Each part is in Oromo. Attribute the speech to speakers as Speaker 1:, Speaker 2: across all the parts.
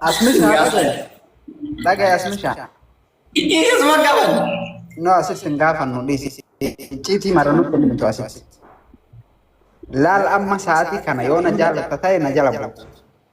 Speaker 1: Asmishaa dhagaya. Dhagaya asmishaa. Dhiisis
Speaker 2: ma qaban. No asitti hin
Speaker 1: gaafannu dhiisi. Icciitii mara nutti hin himtu asitti. Laal amma sa'aatii kana yoo na jaalatta ta'e na jala buutu.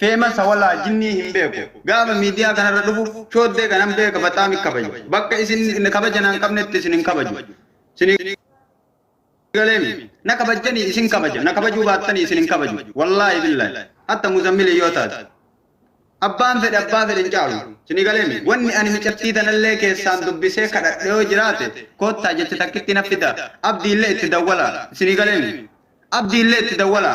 Speaker 3: Feemasa walaa jinnii hin beeku gaafa miidiyaa kanarra dhufu shooddee kanan beeka baxaam ikkabaja bakka isin kabaja naan qabnetti isin hin kabaju sinii galeemi na kabajjani isin kabaja na kabajuu baattani isin hin kabaju wallaahi billaahi hatta muzammili yoo taate abbaan fedhe abbaa fedhe hin caalu sinii galeemi wanni ani micattii tanallee keessaan dubbisee kadhadhe yoo jiraate koottaa jecha takkitti na fida abdiillee itti dawwala sinii galeemi abdiillee itti dawwala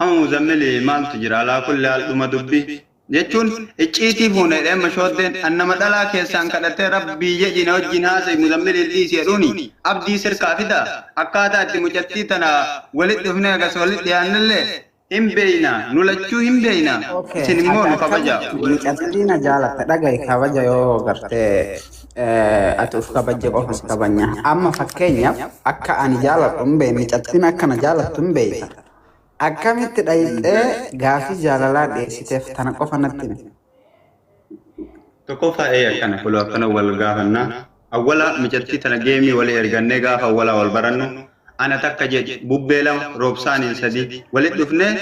Speaker 3: Amma muzammili maaltu jira alaa kulli haal dhuma dubbi jechuun icciitii fuune dheemma shooddeen annama dhalaa keessaan kadhattee rabbii jedhi na wajjin haasa'e muzammili hin dhiisi jedhuuni abdii sirkaa fida akkaataa itti mucattii tana walitti dhufnee agas walitti dhiyaannellee Hin beeyna. Nu lachuu hin beeyna. Okay. Isin immoo nu kabaja. Mucattii na
Speaker 1: jaalatta dhagahi kabaja yoo garte ati uf kabajje qofa si kabanya. Amma fakkeenyaaf akka ani jaaladhu hin beeyne mucattiin akka na jaalattu hin beeyta. Akkamitti dhayxee gaafii jaalalaa dhiyeessiteef tana qofa natti himi.
Speaker 3: Tokkoffaa ee akkana kulo akkana wal gaafannaa. Awwala micattii tana geemii walii ergannee gaafa awwalaa wal barannu ana takka jedhi bubbee lama roobsaaniin sadii walit dhufnee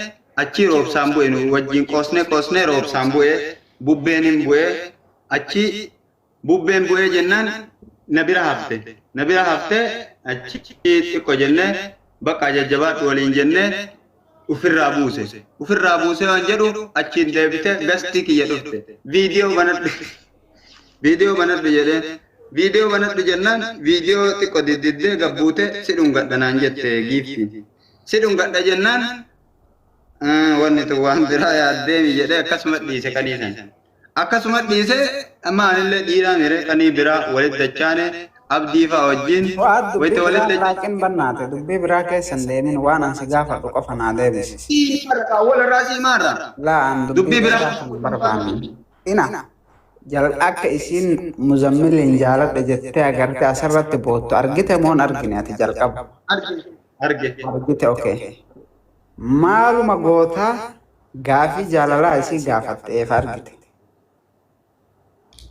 Speaker 3: achii roobsaan bu'e nu wajjiin qoosnee qoosnee roobsaan bu'ee bubbeenin bu'ee achii Bubbeen bu'ee jennaan na bira hafte. Na bira haftee achi xiqqo jennee baqqaa jajjabaadhu waliin jennee ufirraa buuse. Ufirraa buusee waan jedhu achiin deebite gastii kiyya dhufte. Viidiyoo banadhu. Viidiyoo banadhu jedheen. Viidiyoo banadhu jennaan viidiyoo xiqqo diddiddee gabbuute si dhungadha naan jette giiftiin. Si dhungadha jennaan wanni tun waan biraa yaaddeemi jedhee akkasuma dhiise kaniisan. Akkasuma dhiisee amma anillee dhiiraa miree qanii biraa walit dachaane abdii faa wajjin Fu'aad wayita dubbii walit biraa dachaane. laaqiin bannaate
Speaker 1: dubbii biraa keessa hin deemin waan an si gaafadhu qofa naa deebisi. Sii marra kaa wal irraa
Speaker 3: sii maarra. Laa an Dubbii dubbii
Speaker 1: biraa
Speaker 3: dheeraa kana hin barbaanne.
Speaker 1: Ina jal akka isiin muzammiliin jaaladhe jettee agarte asirratti boottu argite moon argine ati jalqaba. Arge. Arge.
Speaker 3: Argite okay.
Speaker 1: Maaluma goota gaafii jaalalaa isii gaafatte eefa argite.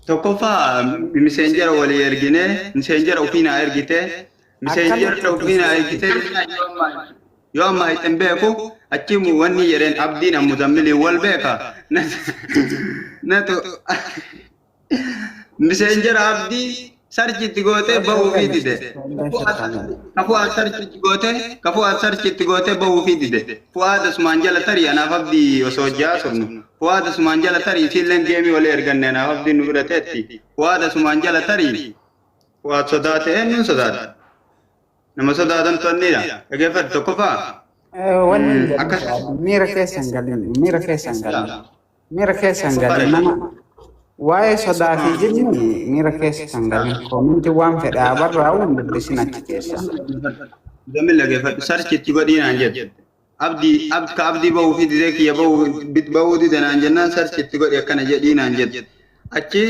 Speaker 3: Tokkoffaa miseenjera walii ergine miseenjera ofii naa ergite miseenjera ofii naa ergite yoo ammaa itti hin beeku achi wanni jedheen abdiin ammuzammiliin wal beeka natu Miseenjar abdii sarchi itti gootee bahuufii dide. Kafuu as sarchi itti gootee kafuu as sarchi itti gootee bahuufii dide. Fu'aad asumaan jala tarii anaaf abdii osoo hojjaa turnu. Fu'aad asumaan jala tarii isiilleen geemii walii erganne anaaf abdii nu bira teetti. Fu'aad asumaan jala tarii. Fu'aad sodaate eenyuun sodaate? Nama sodaatan to'annidha. Dhageeffadhu tokkoffaa. Wanni akkas
Speaker 1: miira keessan galin miira keessan galin. Miira keessa hin galin nama waa'ee sodaa fi jibni miira keessa kan galin koominti waan fedhe haa barraa'u hin dubbisin achi keessa. Gamil
Speaker 3: dhaggeeffadhu sarchi itti godhii naan jedhe. Abdi ab ka abdi ba'uu fi didee kiyya ba'uu bit ba'uu dide naan jennaan sarchi itti godhi akkana jedhii naan jedhe. Achi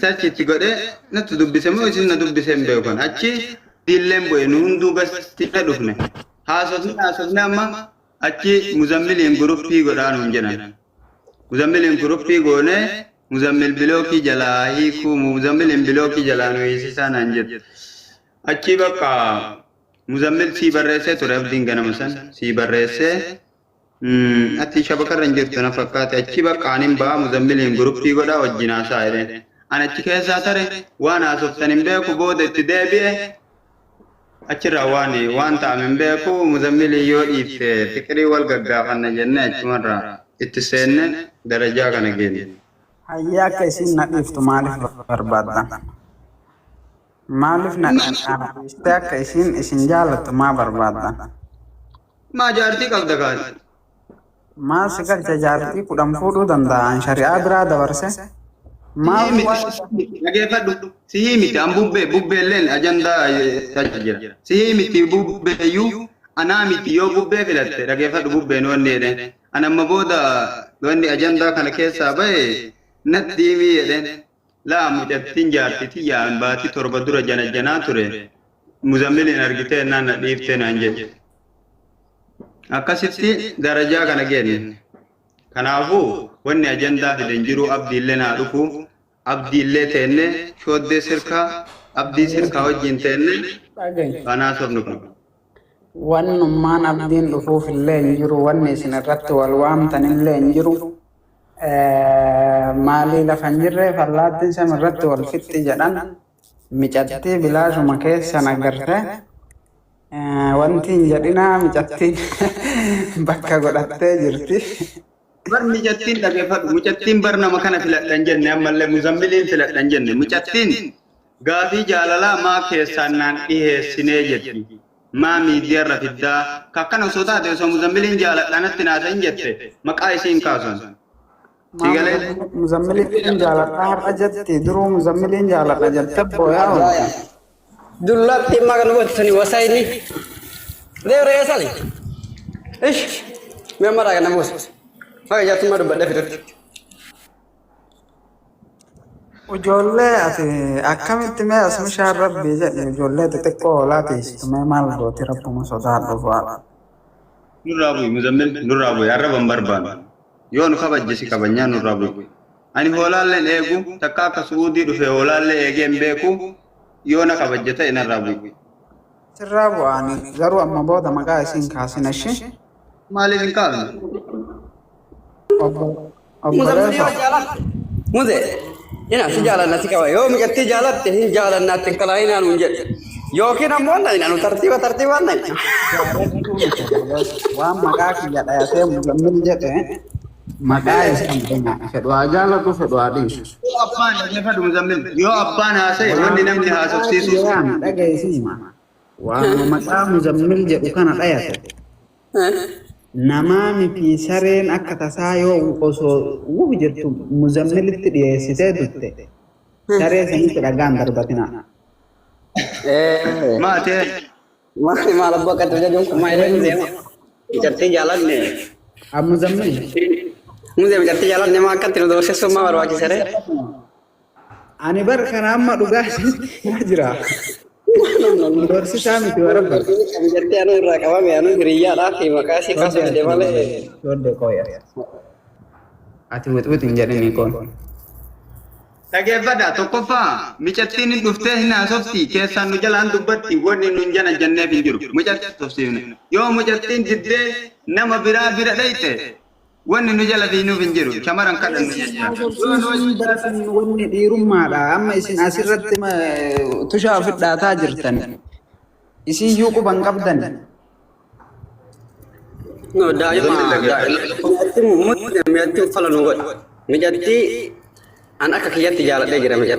Speaker 3: Search itti godhee natti dubbise moo isin na dubbise hin beekan. Achi diilleen bu'e nu hunduu gasti na dhufne. Haasofni haasofni amma achi muzammiliin guruppii godhaa nuun jedhan. Muzammiliin guruppii goone muzammil bilookii jalaa hiikuu muzammiliin bilookii jalaa nu hiisisaa naan jedhe. Achi bakka muzammil sii barreessee ture abdiin ganama san sii barreessee Ati shabakarra hin jirtu na fakkaate achi bakka anin ba'aa muzammiliin guruppii godhaa wajjin haasaa jedheen. An achi keessaa tare waan haasoftan hin beeku booda itti deebi'e achirraa waan waan ta'ame hin beeku muzammilii yoo dhiifte fiqirii wal gaggaafanna jennee achumarraa itti seenne darajaa kana geenye. Hayyee akka
Speaker 1: isiin na dhiiftu maaliif barbaaddan? Maaliif na dhandhaamsiistee akka isiin isin jaalattu maa barbaadda?
Speaker 3: Maa jaartii qabda gaati?
Speaker 1: Maal si galcha jaartii kudhan fuudhuu danda'a an shari'aa biraa dabarse? Maal Sihii waan miti.
Speaker 3: Dhageeffadhu. Sihii miti. An bubbee. Bubbeelleen ajandaa tacha jira. Sihii miti bubbeeyyuu anaa miti yoo bubbee filatte dhageeffadhu bubbeen wanni jedheen. An amma booda wanni ajandaa kana keessaa bahe natti himii jedheen. Laa mucattiin jaartii tiyyaa an baatii torba dura janajjanaa ture muzammiliin argitee ennaan na dhiiftee naan jette. Akkasitti darajaa kana geenne. Kanaafuu wanni ajandaa fiden jiruu abdiilleen haa dhufu abdiillee teennee shooddee sirkaa abdii sirkaa wajjiin teennee waan haasofnu qabna. Wannummaan
Speaker 1: abdiin dhufuuf illee hin jiru, wanni isin irratti wal waamtan illee hin jiru. Maalii lafa hin jirreef allaattiin sami irratti wal fixxi jedhan. Micattii bilaashuma keessan agarte. Wanti hin jedhinaa micattiin bakka godhattee jirti. Bar
Speaker 3: micattiin dhaggeeffadhu. Micattiin bar nama kana filadhan jenne ammallee muzammiliin filadhan jenne. Micattiin Gaafii jaalalaa maa keessaan naan dhiheessinee jetti maa miidiyarra fiddaa ka akkana osoo taate osoo muzambiliin jaaladhaa natti naasa hin jette maqaa isii hin kaasun Maa Sigalee? muzammil-
Speaker 1: muzammiliin jaaladha har'a jette duruu muzammiliin jaaladha jette booyaa oolti.
Speaker 2: Dullatti immaa kan gootani wasaayini. Deemra eessani? Ish! Mee maraa kana buusa. Maka jaattummaa dubbadhee fidutti.
Speaker 1: Ijoollee ati akkamitti mee as mishaan rabbii jedhi ijoollee xixiqqoo hoolaa teessitu mee maal gooti rabbuma sodaadhu bu'aa. Nurraa
Speaker 3: bu'i muzammil nurraa bu'i arraba hin barbaannu. Yoo nu kabajje si kabajnaa nurraa bu'i. Ani hoolaalleen eegu takka akka su'uudii dhufee hoolaallee eegee hin beeku yoo na kabajje ta'e narraa bu'i. Sirraa
Speaker 1: bu'aani garuu amma booda maqaa isiin kaasina ishii. Maaliif hin
Speaker 3: kaafnu? Obbo Obbo Muzamzamii Reefa.
Speaker 2: yoo jaalatte. Muze. Ina si jaalanna si qaba. Yoo miqattii jaalatte hin jaalanna atti hin kalaayinaa nuun jedhe. Yookiin ammoo na ina nu tartiiba tartiibaan na ina.
Speaker 1: Jaalattuu miti durbas waan maqaa kiyya dhayatee muzammil jedhe maqaa isaan dhuma fedhu haa jaalatu fedhu haa dhiisu. Yoo abbaan dhaggeeffadhu
Speaker 3: muzammil. Yoo abbaan haasa'e wanni Waanuma namni maqaa haasofsiisuus. kiyyaan dhageessima.
Speaker 1: Waanuma maqaa muzammil jedhu kana dhayate. Namaa mitii sareen akka tasaa yoo osoo wuh jettu muzammilitti dhiyeessitee dutte saree sanitti dhagaa hin darbatinaa.
Speaker 3: Maatee. Maali
Speaker 2: maal abbaa akka tasaa jedhu kumaa ilaalu deema. Ijartii jaalanne.
Speaker 1: Muzammil.
Speaker 2: Muzammil ijartii jaalanne maa akkatti nu doorsisuu maa barbaachisaree.
Speaker 1: Ani bar kana amma dhugaa isinitti himaa jira. Dorsisaa miti warra bar. Kan jettee anuu irraa
Speaker 2: qabame anuu hiriyyaadhaa fi maqaa isii kaasa fide malee. Ijoollee
Speaker 1: kooya. Ati wixwixi hin jedhinii koon.
Speaker 3: Dhageeffadha tokkoffaa micattiin hin dhuftee hin haasofti keessaan nu jalaan dubbatti wanni nun jana janneef hin jiru mucatti tufsiifne yoo mucattiin diddee nama biraa bira dhayxe Wanni nu jala fiignuuf hin jiru. Shamaran kadhannu Isin jecha. haasofsiisuu hin bartan wanni
Speaker 1: dhiirummaadha. Amma isin asirratti ma- tushaa ofi dhaataa jirtan. Isin iyyuu quba hin qabdan.
Speaker 4: No, daa'ima mijatti uffala nu godhe. Mijatti an akka kiyyatti jaaladhee jira mijatti.